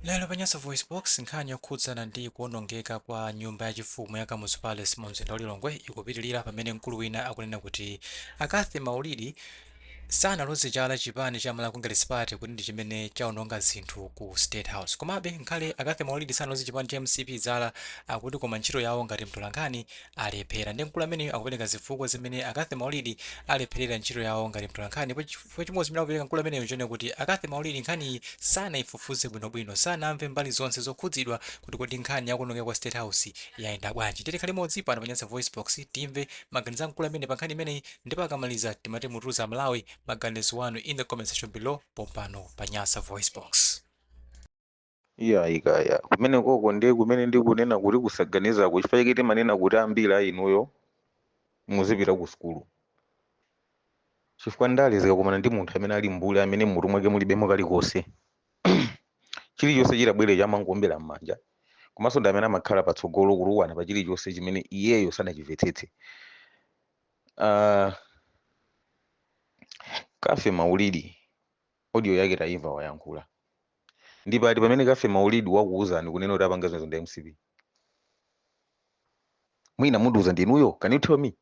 Lero pa Nyasa VoiceBox, nkhani yokhudzana ndi kuonongeka kwa nyumba ya chifumu ya Kamuzu Palace mu mzinda wa Lilongwe ikupitilira pamene mkulu wina akunena kuti a Cathy Maulidi sanaloze chala chipani cha Malawi Congress Party kuti ndi chimene chaononga zinthu ku State House. Komabe, ngakhale a Cathy Maulidi sanaloze chipani cha mcp chala, akuti koma ntchito yawo ngati mtolankhani alephera. Nde mkulu ameneyu akupereka zifukwa zimene a Cathy Maulidi alepherera ntchito yawo ngati mtolankhani Chifukwa chimodzi chimene akupereka mkulu ameneyu nchonena kuti a Cathy Maulidi nkhaniyi sanaifufuze bwinobwino, sanamve mbali zonse zokhudzidwa kuti kodi nkhani ya kuonongeka kwa State House yayenda bwanji. Ndiye tikhale limodzi pano pa Nyasa VoiceBox timve maganizo a mkulu ameneyu pankhani imeneyi ndipo akamaliza timati mutiuze Amalawi maganizo anu in the comment section below pompano pa Nyasa VoiceBox. Iyayi kaya kumenekoko ndiye kumene ndikunena kuti kusaganizako chifukwa chake timanena kuti ambiri a inuyo muzipita ku sukulu chifukwa ndale zikakumana ndi munthu amene ali mbuli amene mutu mwake mulibemo kalikonse chilichonse chitabwere amangoombera m'manja komanso ndi amene amakhala patsogolo kutukwana pa chilichonse chimene iyeyo sanachimvetsetse Ah, Cathy Maulidi Audio yake taimva wayankhula. Ndi pati pamene Cathy Maulidi wakuuzani kunena kuti apanga zimenezo ndi mcp? Mwina mundiuze inuyo? Can you tell me?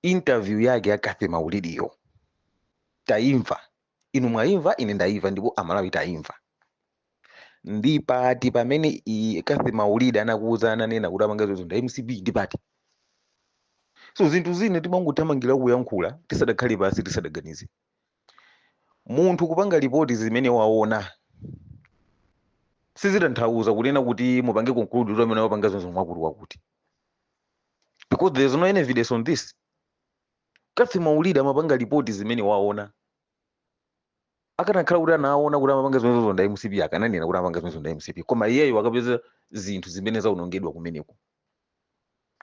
Interview yake ya Cathy Maulidiyo taimva. Inu mwaimva, ine ndaimva ndipo Amalawi taimva. Ndi pati pamene i- Cathy Maulidi anakuuza ananena kuti apanga zimenezo ndi mcp? Ndi pati? So zinthu zina timangothamangira kuyankhula tisadakhale pansi tisadaganize. munthu kupanga lipoti zimene waona sizitanthauza kunena kuti mupange conclude kuti amene wapanga zimenezo ndi wakuti wakuti because there is no any evidence on this cathy maulidi amapanga lipoti zimene waona akanakhala kuti anaona kuti amapanga zimenezozo ndi a mcp akananena kuti amapanga zimenezozo ndi a mcp koma iyeyo akapeza zinthu zimene zaonongedwa kumeneko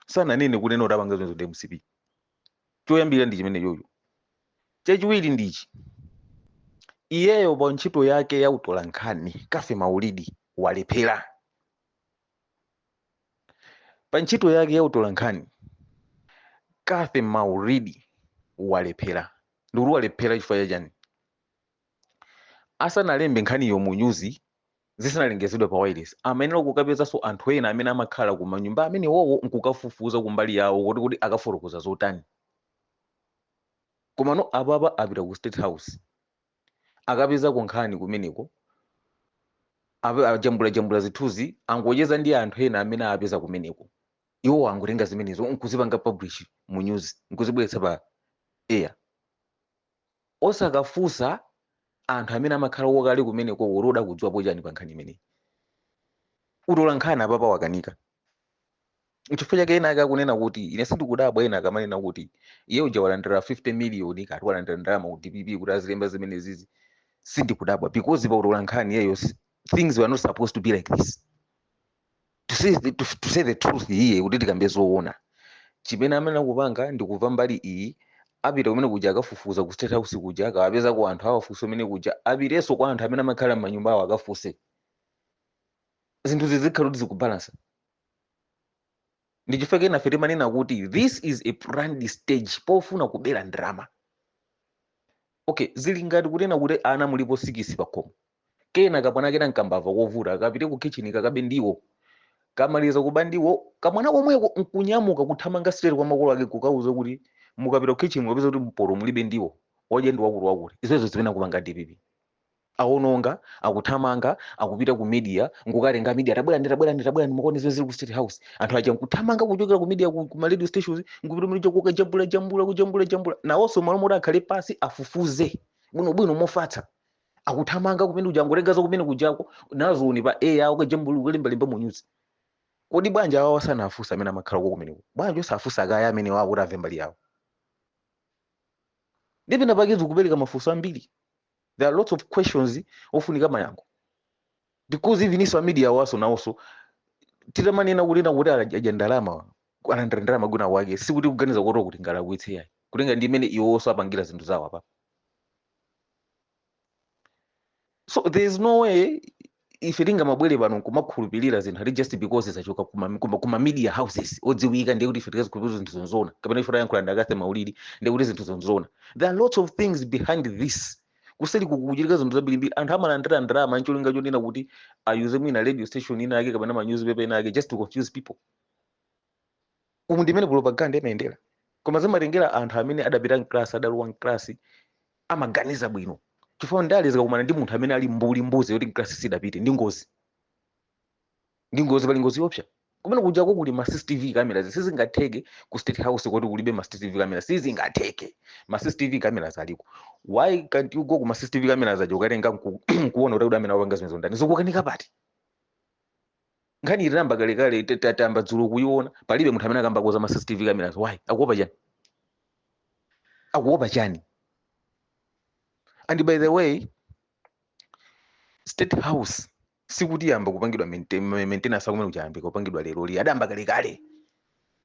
sananene kunena kuti apanga zimenezozo ndi a mcp choyamba ndi chimenechocho chachiwiri ndichi iyeyo pa ntchito yake ya utolankhani cathy maulidi walephera pa ntchito yake ya utolankhani cathy maulidi walephera ndikuti walephera chifukwa cha chani asanalembe nkhaniyo mu nyuzi zisanalengezedwe pa wailesi amayenera kukapezanso anthu ena amene amakhala ku manyumba amenewowo nkukafufuza kumbali yawo kuti kodi akafotokoza zotani komano apapa apita ku state house akapezako nkhani kumeneko ape- ajambulajambula zithunzi angocheza ndi anthu ena amene apeza kumeneko iwo angotenga zimenezo nkuzipanga publish mu news nkuzibweretsa pa air osakafunsa anthu amene amakhalako kale kumenekoko kuti kodi akudziwapo chani pa nkhani imeneyi. Utolankhani apapa wakanika. N'chifukwa chake ena ake akunena kuti ine sindikudabwa ena akamanena kuti iye uja walandira 50 miliyoni kati walandira ndalama ku DPP kuti azilemba zimenezizi sindikudabwa because pa utolankhani iyeyo si- things were not supposed to be like this. to say the, to, to say the truth iye kuti tikambe zoona chimene amene akupanga ndi kumva mbali iyi apita kumene kuja akafufuze ku State House kuja akawapezako anthu awafunse kumene kuja apitenso kwa anthu amene amakhala m'manyumba awo akafunse zinthu zikhale kuti zikubalansa ndi chifukwa chake nafe timanena kuti this is a planned stage pofuna kupera drama okay zili ngati kunena kuti ana mulipo sikisi pakhomo Kena kamwana kena nkambava, kovuta kapite ku kitchen kakabe ndiwo. Kamaliza kuba ndiwo, kamwana komweko nkunyamuka kuthamanga straight kwa makolo ake kukauza kuti mukapita ku kitchen mukapeza kuti mpoto mulibe ndiwo. Odya ndi wakuti wakuti. Zimenezo zimene akupanga a DPP. Awononga, akuthamanga, akupita ku media nkukatenga a media tabwerani tabwerani tabwerani mukaone zimene zili ku State House. Anthu aja nkuthamanga kuchokera ku media ku, ku ma radio stations nkupita kumene kuja kukajambula jambula kujambula jambula. Nawonso mmalo moti akhale pansi afufuze bwinobwino mofatsa akuthamanga kumene kuja angotenga za kumene kujako nazo ndi pa air ukajambula kulembalemba mu news kodi bwanji awawa sanafunsa amene amakhalako kumeneko bwanji osafunsa akaya amene wawo kuti amve mbali yawo ndiye penapake zikupereka mafunso ambiri there are lots of questions ofunika mayankho because even iwo a media awa nawonso titamanena kunena kuti adya ndalama alandira ndalama kwina kwake sikuti kuganiza kuti kuti ngalakwitse yayi kutengera ndi mmene iwonso apangira zinthu zawo apa so there is no way ife tingamabwere pano nkumakhulupirira zinthu ati just because zachoka kuma, kuma, kuma media houses odziwika ndiye kuti ife tizikhulupirira zinthu zonzoona kapena ife tayankhula ndi a Cathy Maulidi ndiye kuti zinthu zonzoona there are lots of things behind this kuseli kukuchitika zinthu zambirimbiri anthu amalandira ndalama ncholinga chonena kuti ayuze mwina radio station ina yake kapena ma newspaper ina yake just to confuse people umu ndi mmene propaganda imayendera koma zimatengera anthu amene adapita mklasi adalowa mklasi amaganiza bwino chifukwa ndale zikakumana ndi munthu amene ali mbuli mbuzi yoti mklasi sidapite ndi ngozi ndi ngozi pali ngozi yoopsa kumene kujako kuli ma cctv cameras sizingatheke ku State House kuti kulibe ma cctv cameras sizingatheke ma cctv cameras aliko why can't you go ku ma cctv cameras aja ukatenga nku- nkuona kuti kuti amene apanga zimenezo ndani zikukanika pati nkhani iyi tinayamba kalekale ta- ta- tayamba dzulo kuiona palibe munthu amene akukambako za ma cctv cameras why akuopa chani akuopa chani and by the way state house sikuti yamba kupangidwa maintain- ma- maintenance akumene kuyambika kupangidwa leroli adayamba kalekale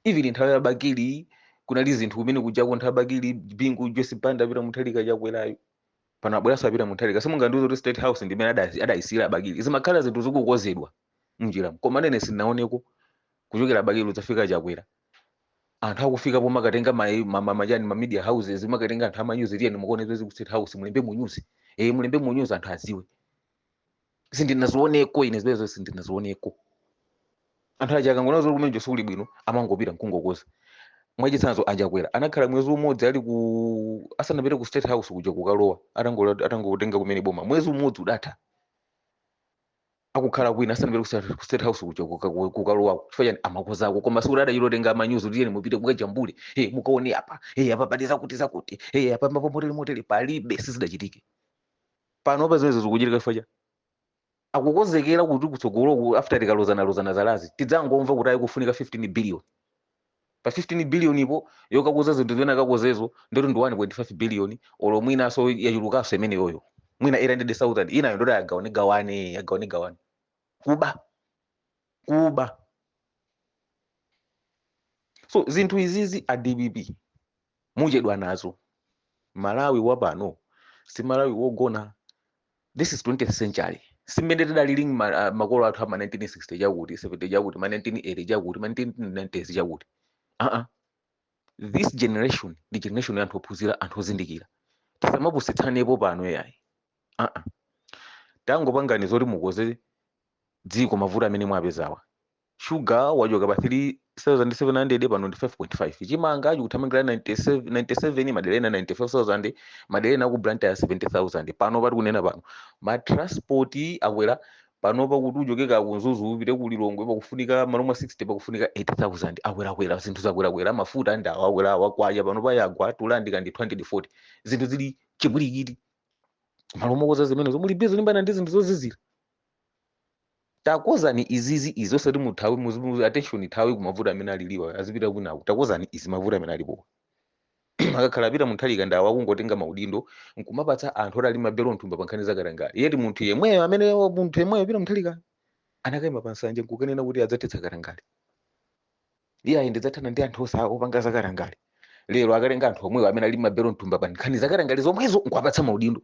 even nthawi ya bakili kunali zinthu kumene kujako nthawi ya bakili bingu joyce banda peter mutharika chakwerayo pano abweranso a peter mutharika simungandiuze kuti state house ndi imene ada- adayisiyira abakili zimakhala zinthu zikukozedwa mnjiramu koma ine sindinaonepo kuchokera abakili kudzafika chakwera anthu akufika pomakatenga ma- ma- ma- machani ma media houses kumakatenga anthu amanyuzi tiyeni mukaone zimene zili ku state house mulembe munyuzi eh mulembe munyuzi anthu aziwe sindinazioneko ine zimenezo sindinazioneko anthu aja akangoona zoti kumeneko sikuli bwino amangopita nkungokoza mwachitsanzo achakwera anakhala mwezi umodzi ali ku asanapite ku state house kuja kukalowa atangola- atangotenga kumene boma mwezi umodzi udatha akukhala kwina asanapite ku state- ku state house kuja kuka- ku- kukalowako chifukwa chani amakozako koma sikuti adachita kutenga amanyuzi kuti tiyeni mupite mukajambule e mukaone apa e apa pali zakuti zakuti e apa mapomotele motele palibe sizidachitike panopa zimenezo zikuchitika chifukwa chani akukonzekera kuti kutsogoloku after tikalozanalozana zalazi tidzangomva kuti ayi kukufunika 15 billion pa 15 billionipo yokakoza zinthu zimene akakozezo ndoti ndi 1.5 billion olo mwinaso yachulukanso imeneyoyo mwina 800000 inayo ndoti agawane gawane agawane gawane kuba kuba so zinthu izizi a dpp muchedwa nazo malawi wa pano si malawi wogona this is 20th century si mmene tidalili ma, uh, makolo athu ama 1960 chakuti 70 chakuti ma 1980 chakuti ma 1990s chakuti uh -uh. this generation ndi generation ya anthu ophunzira anthu ozindikira tisamapusitsanepo pano yayi uh -uh. tangopangani zoti mukoze dziko mavuto amene mwapezawa Shuga wachoka pa 3,700 pano ndi 5.5. Chimanga chikuthamangira 97, 97, madera ena 95,000, madera ena aku Blantyre 70,000. Panopa tikunena pano ma transport akwera, panopa kuti uchoke kaya ku Mzuzu upite ku Lilongwe pakufunika m'malo mwa 60 pakufunika 80,000. Akwerakwera, zinthu zakwerakwera, mafuta ndi awa akwera awa, kwacha panopa yagwa, tulandika ndi 240. Zinthu zili chipwirikiti. M'malo mokonza zimenezo muli busy kulimbana ndi zinthu zozizira. Takozani izizi izi osati muthawe muzifuna attention ithawe kumavuto amene alipowa azipita kwinaku takozani izi mavuto amene alipowa akakhala a peter mutharika ndi awo akungotenga maudindo nkumapatsa anthu oti ali mabelo mthumba pa nkhani zakatangale yeti munthu yemweyo amene munthu yemweyo peter mutharika anakaima pa nsanja nkukanena kuti adzathetsa katangale iye ayi ndidzathana ndi anthu onse opanga zakatangale lero akatenga anthu omwewo amene ali mabelo mthumba pa nkhani zakatangale zomwezo nkuwapatsa maudindo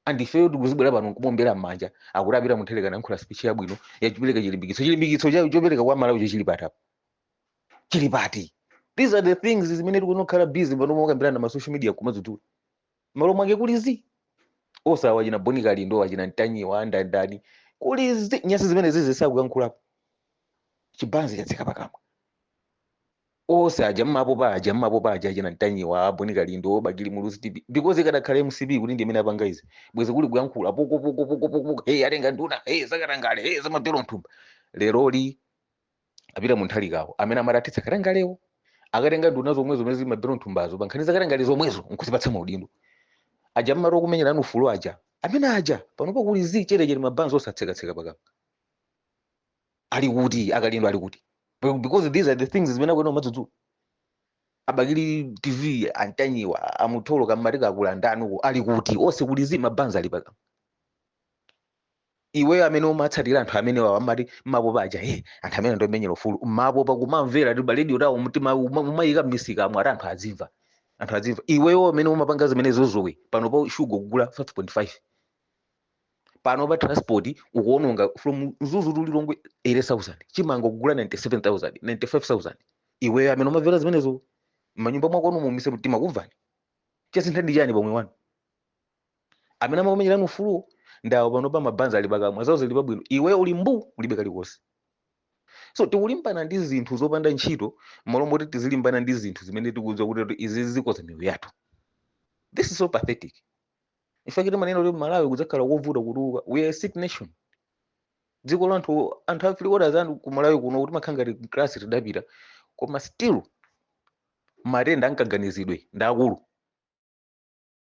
and ifeyo tikuzibwera pano nkumombera m'manja akuti apita muntharika nayankhula speech yabwino yachipereka chilimbikitso chilimbikitso cha- chopereka kwa a malawi icho chili pati apa chili pati these are the things zimene tikuona kukhala busy pano mokambirana na masocial media kumadzudula malo mwake kuli zii onsewa achina bon kalindo achina ntanyiwa andani ndani kuli zii nyansi zimenezizi sakuyankhulapo chibanzi chatseka pakamwa Onse aja mmapopa aja mmapopa aja achina ntanyiwa abon kalindo bakili muluzi tv because ikadakhala mcp kuti ndimene apanga izi bwezi kuli kuyankhula poko poko poko poko poko hey atenga nduna hey zakatangale hey zamabelo mthumba leroli apita muntharikawo amene amati athetsa katangalewo akatenga nduna zomwezo zimene zili mabelo mthumbazo pankhani zakatangale zomwezo nkuzipatsa maudindo aja mmati okumenyerani ufulu aja amene aja panopa kuli zii chete chete mabanzi atsekatseka pakamwa ali kuti akalindo ali kuti Be- because these are the things zimene akuyenera kumadzudzula abakili tv antanyiwa amutolo kamtikakuti ndaniuko ali kuti onse kuli zii mabanzi ali pakamwa iweyo amene umatsatira anthu amenewawa amati mapopa aja he anthu amene ndomenyera ufulu mapopa kumamvera ndi paredio tayo mtima uma- umayika m'misika amve ati anthu azimva anthu azimva iweyo amene umapanga zimenezozo iwe panopa shuga ukugula 5.5 panopa transport ukuononga from mzuzu to lilongwe 80000 chimanga ukugula 97000 95000 iweyo amene umamvera zimenezo mnyumba mwako amvu mumise mtima ukumvanji chasintha ndi chani pomwe anthu amene amakumenyerani ufuluwo ndawo panopa mabanzi ali pakamwa zawo zili pabwino iweyo uli mbu ulibe kalikonse so tikulimbana ndi zinthu zopanda ntchito malo moti tizilimbana ndi zinthu zimene tikudziwa kuti kuti izi zikonza miyoyo yathu this is so pathetic Ichi chake timanena kuti Malawi kudzakhala kovuta kutuluka. We are a sick nation. Dziko la anthu anthu a three quarters anthu ku Malawi kuno kuti amakhala ngati kuclass tidapita. Koma still matenda amkaganizidwe ndi akulu.